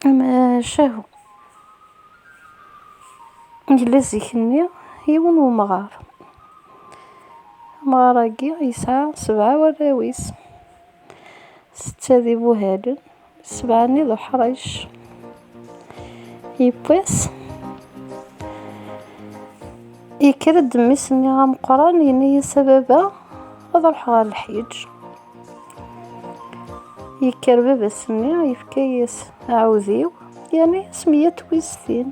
Amacahu, yella zik-nni yiwen n umɣar. Amɣar-agi yesɛa sebɛa n warraw-is, setta d ibuhalen, sebɛa-nni d uḥric. Yewwi-s, yekker-d mmi-s-nni ameqqran, yenna-as a baba ad ruḥeɣ ɣer leḥyiǧ. Yekker baba s-nni yefka-yas aɛudiw yerna-yas meyya twistin.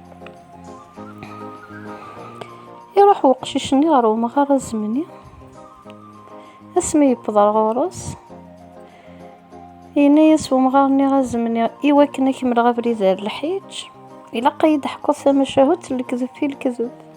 Iruḥ weqcic-nni ɣer umɣar azemni asmi yewweḍ ar ɣur-s yenna-yas umɣar-nni azemni iwakken ad kemmleɣ abrid ar lḥiǧ ilaq ad yi-d-teḥkuḍ tamacahut n lekdeb fi lekdeb.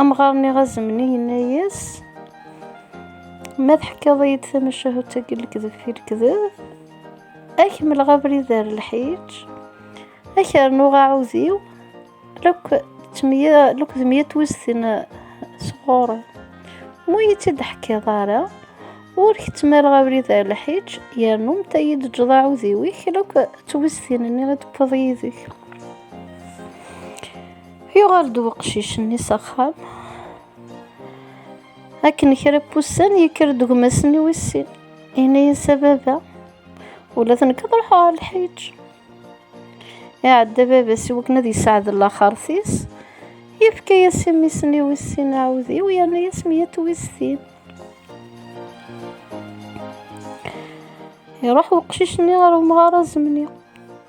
Amɣar-nni azemni yenna-yas, Ma teḥkaḍ-iyi-d tamacahut akken lekdeb fi lekdeb, ad kemmleɣ abrid ar lḥiǧ, ad k-rnuɣ aɛudiw, lekdeb mya twiztin sɣur-i. Ma iyi-tt-id ḥkiḍ ara, ur k-ttmaleɣ abrid ar lḥiǧ, yernu mta iyi-d-ǧǧeḍ aɛudiw-ik, lekdeb twiztin-nni i d-tewwiḍ yid-k. Yuɣal-d weqcic-nni s axxam. Akken kra n wussan yekker-d gma-s-nni wis sin. Yenna-yas a baba, ula d nekk ad ruḥeɣ ɣer lḥiǧ. Iɛedda baba-s i wakken ad yesɛed laxert-is. Yefka-yas i mmi-s-nni wis sin aɛudiw yerna-yas meyya n twistin. Iruḥ weqcic-nni ɣer umɣar azemni.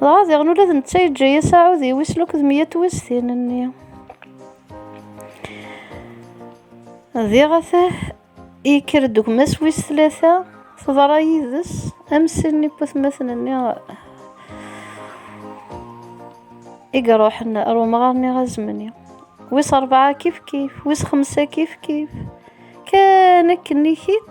Dɣa diɣen ula d netta yeǧǧa-as aɛud i wis luked mya twistin-nni. Diɣ ata yekker-d gma-s wis tlata, teḍra yid-s am sin n yiputmaten-nni i iruḥen ar umɣar-nni azemni. Wis rebɛa kifkif, wis xemsa kifkif, kan akken ikit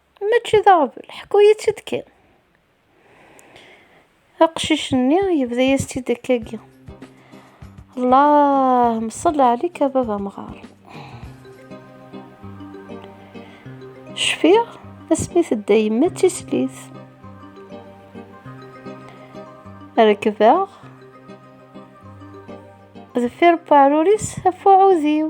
Mačči d aɣbel, ḥku-yi-tt-id kan. Aqcic-nni yebda-yas-tt-id akkagi. Allah mṣalli ɛalik a baba mɣar. Cfiɣ asmi tedda yemma d tislit. Rekbeɣ deffir uɛrur-is af uɛudiw.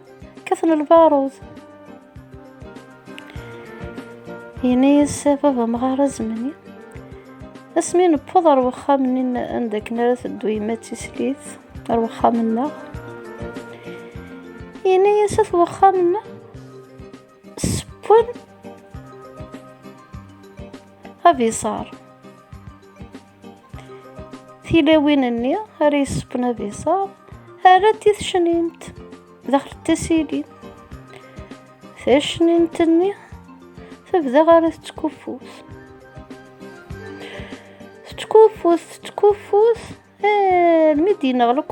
Kkaten lbarud. Yenna-yas baba mɣar azemni. Asmi newweḍ ar wexxam-nni anda akken ara teddu yemma d tislit ar wexxam-nneɣ. Yenna-yas at wexxam-nneɣ sewwen abiṣar. tilawin-nni ara yessewwen ad iṣab rrant i tecnint daxel tasili tacnint-nni tebda ara tettkuffut tettkuffut tettkuffut eh, mi d-ineɣleq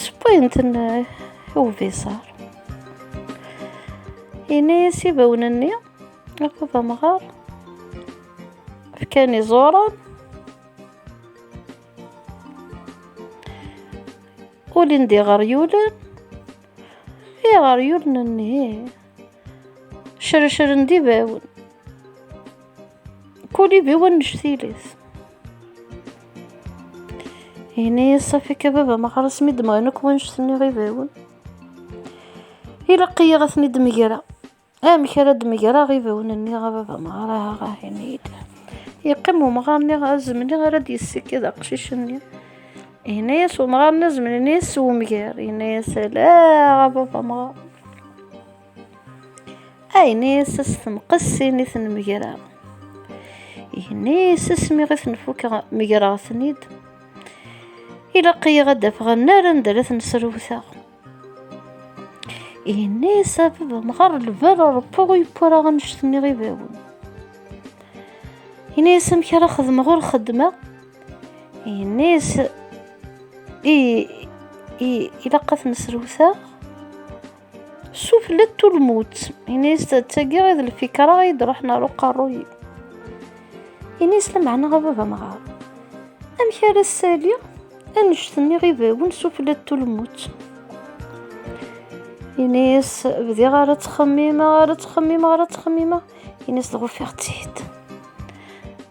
Sewwayent-ten i ubiṣar. Yenna-yas ibawen-nni akked amɣar fkan iẓuran ulin d iɣeryulen iɣeryulen-nni Crecren d ibawen. Kul ibiw annect tilit. Ini-yas safik a baba ma xalas mi d-mɣan akk wanect-nni ibawen. Ilaq-iyi ad ten-id-megreɣ. Amek ara d-megreɣ ibawen-nni a baba ma ara ini-yi-d. Yeqqim umɣar-nni azemni ara d-yessikid aqcic-nni. Yenna-yas umɣar n azmel, yenna-yas s wemger, yenna-yas ala a baba amɣar. A yenna-yas as temqessin i ten-megreɣ. Yenna-yas asmi i ten-fukeɣ megreɣ-ten-id. Ilaq-iyi ad d-afeɣ annar anda ara ten-srewteɣ. Yenna-yas a baba amɣar lbal ṛebbaɣ ur yewwi ara annect-nni ibawen. Yenna-yas amek ara xedmeɣ ur xeddmeɣ. Yenniz i ilaq ad ten-srewteɣ suflet tulmut inisi d tagi i d lfikra i d-ruḥen ar uqerruy-iw inisi lameɛna a baba amɣar amek ara ssaliɣ annect-nni ibawen suflet tulmut inisi bdiɣ ara ttxemmimeɣ ara ttxemmimeɣ ara ttxemmimeɣ Ini-as dɣa ufiɣ-tt-id.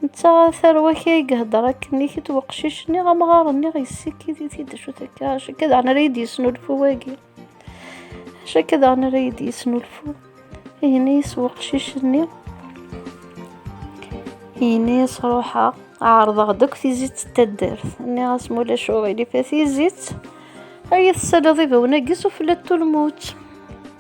Netta ɣer tarwa kya i ihedder akken i kit weqcic-nni amɣar-nni yessikid-it-id acu takka acu akka daɣen ara yi-d-yesnulfu wagi. Acu akka daɣen ara yi-d-yesnulfu. Ini-as weqcic-nni. Ini-as ruḥeɣ ɛerḍeɣ-d akk tizit d taddart. Nniɣ-as ma ulac uɣilif a tizit. Ay tesaliḍ ibawen-agi sufella n tulmut.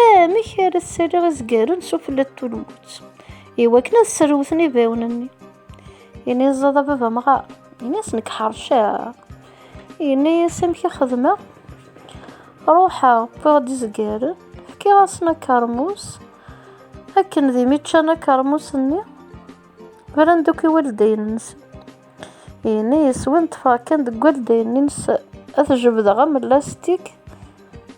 Amek ara ssaliɣ izgaren s ufella n tulmut i wakken ad sserwten ibawen-nni? Yenna-yas a baba amɣar, yenna-yas nekk ḥerceɣ. Yenna-yas amek i xedmeɣ? Ruḥeɣ, wwiɣ-d izgaren, fkiɣ-asen akermus, akken d imi ččan akermus-nni, bran-d akk i waldayen-nsen. Yenna-yas win ṭṭfeɣ kan deg waldayen-nnes ad jebdeɣ am lastik,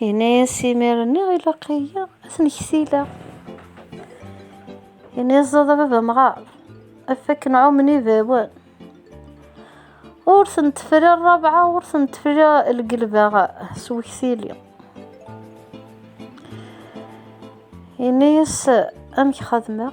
Yenna-yas imir-nni ilaq-iyi ad ten-ksileɣ. Yenna-yas ẓaḍ a baba mɣar, af akken ɛumen ibawen. Ur ten-tefri rrabɛa, ur ten-tefri lgelbaɣ s weksili. Yenna-yas amek xadmeɣ.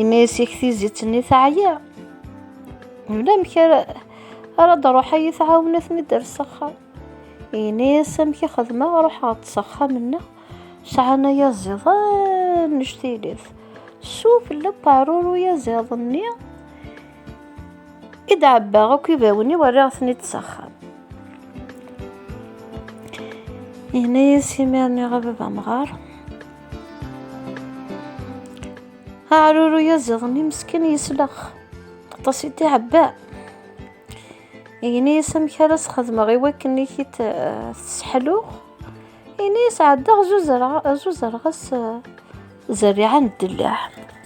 imi yesik tizit-nni teɛya ulamek ara ara d-ruḥ ad yi-tɛawen ad ten-idder s axxam ini-as amek i xedmeɣ ruḥeɣ-d s axxam-nneɣ sɛan aya ẓiḍan nnect-ilat suf leqɛerur uyaziḍ-nni i d-ɛebbaɣ akk ibawen-iw rriɣ-ten-id s axxam yenna-yas imir-nni ɣer baba amɣar aɛruru yaziḍen imeskin yeslex aṭas i d-iɛebba yenna-yas amek ara s-xedmeɣ i wakken i t-sseḥluɣ yenna-yas ɛeddaɣ zuzreɣ-as zerriɛa n ddellaɛ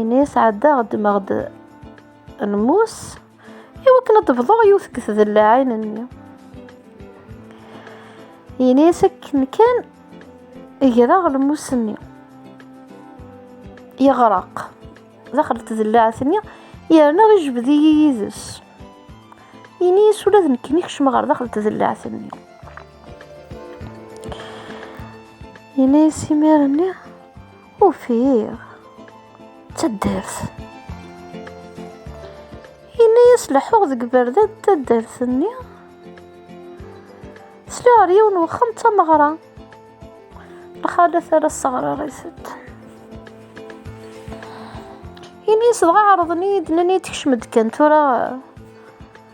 ini sɛeddaɣ ddmeɣ-d lmus i wakken ad d-bḍuɣ yiwet deg tdellaɛin-nni ini akken kan greɣ lmus-nni yeɣreq daxel tdellaɛt-nni yerna ijbed-iyi yid-s ini ula d nekkni kecmeɣ ɣer daxel tdellaɛt-nni ini simir-nni Ufiɣ taddart. Yenna-yas leḥḥuɣ deg berdad taddart-nni. Sliɣ ɣer yiwen n wexxam d tameɣra. Lxalat ara sseɣrarit-d. Yenna-yas dɣa ɛerḍen-iyi-d, nnan-iyi-d kcem-d kan tura.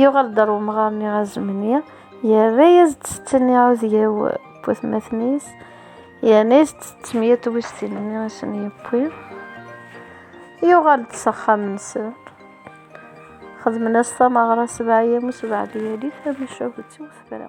Yuɣal-d ar umɣar-nni azemni, yerra-yas-d setten iɛudiyaw n watmaten-is, yerna-yas-d setten ya twiztin-nni i sen-yewwi. Yuɣal-d s axxam-nsen, xedmen-as tameɣra sebɛa yamus, sebɛa layali, tamacahut-iw tefra.